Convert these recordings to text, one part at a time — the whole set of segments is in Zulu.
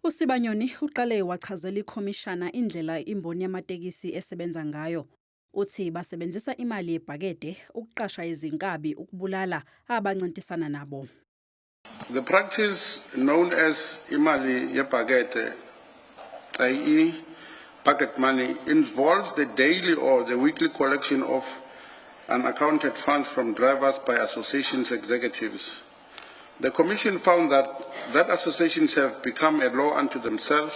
USibanyoni uqale wachazela ikhomishana indlela imboni yamatekisi esebenza ngayo. Uthi basebenzisa imali yebhakede ukuqasha izinkabi ukubulala abancintisana nabo. The practice known as imali yebhakede, i.e. bucket money, involves the daily or the weekly collection of unaccounted funds from drivers by association's executives. The commission found that that associations have become a law unto themselves.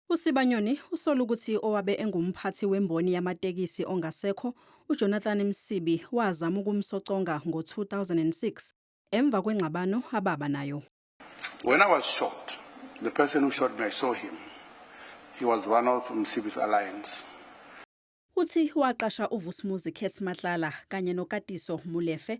USibanyoni usola ukuthi owabe engumphathi wemboni yamatekisi ongasekho, uJonathan Msibi, wazama ukumsoconga ngo-2006 emva kwengxabano ababa nayo. When I was shot, the person who shot me, I saw him. He was one of Msibi's alliance. Uthi waqasha uVusumuzi Kess Matlala kanye noKatiso Molefe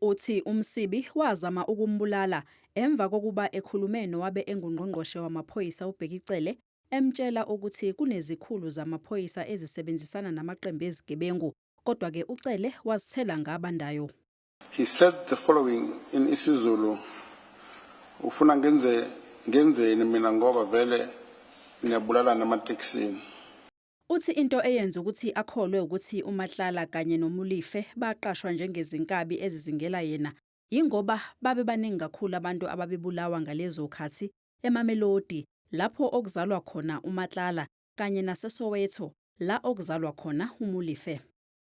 Uthi uMsibi wazama ukumbulala emva kokuba ekhulume nowabe enguNgqongqoshe wamaPhoyisa uBheki Cele emtshela ukuthi kunezikhulu zamaphoyisa ezisebenzisana namaqembu ezigebengu kodwa ke uCele wazithela ngabandayo. He said the following in isiZulu, Ufuna ngenze ngenzeni mina ngoba vele niyabulalana ematekisini. Uthi into eyenza ukuthi akholwe ukuthi uMatlala kanye noMolefe baqashwa njengezinkabi ezizingela yena yingoba babebaningi kakhulu abantu ababebulawa ngalezokhathi eMamelodi lapho okuzalwa khona uMatlala kanye naseSoweto la okuzalwa khona uMolefe.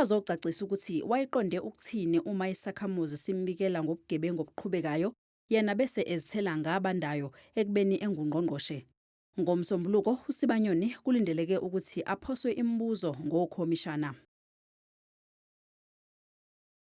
azocacisa ukuthi wayeqonde ukuthini uma isakhamuzi simbikela ngobugebengu obuqhubekayo yena bese ezithela ngabandayo ekubeni engungqongqoshe. NgoMsombuluko uSibanyoni kulindeleke ukuthi aphoswe imibuzo ngokhomishana.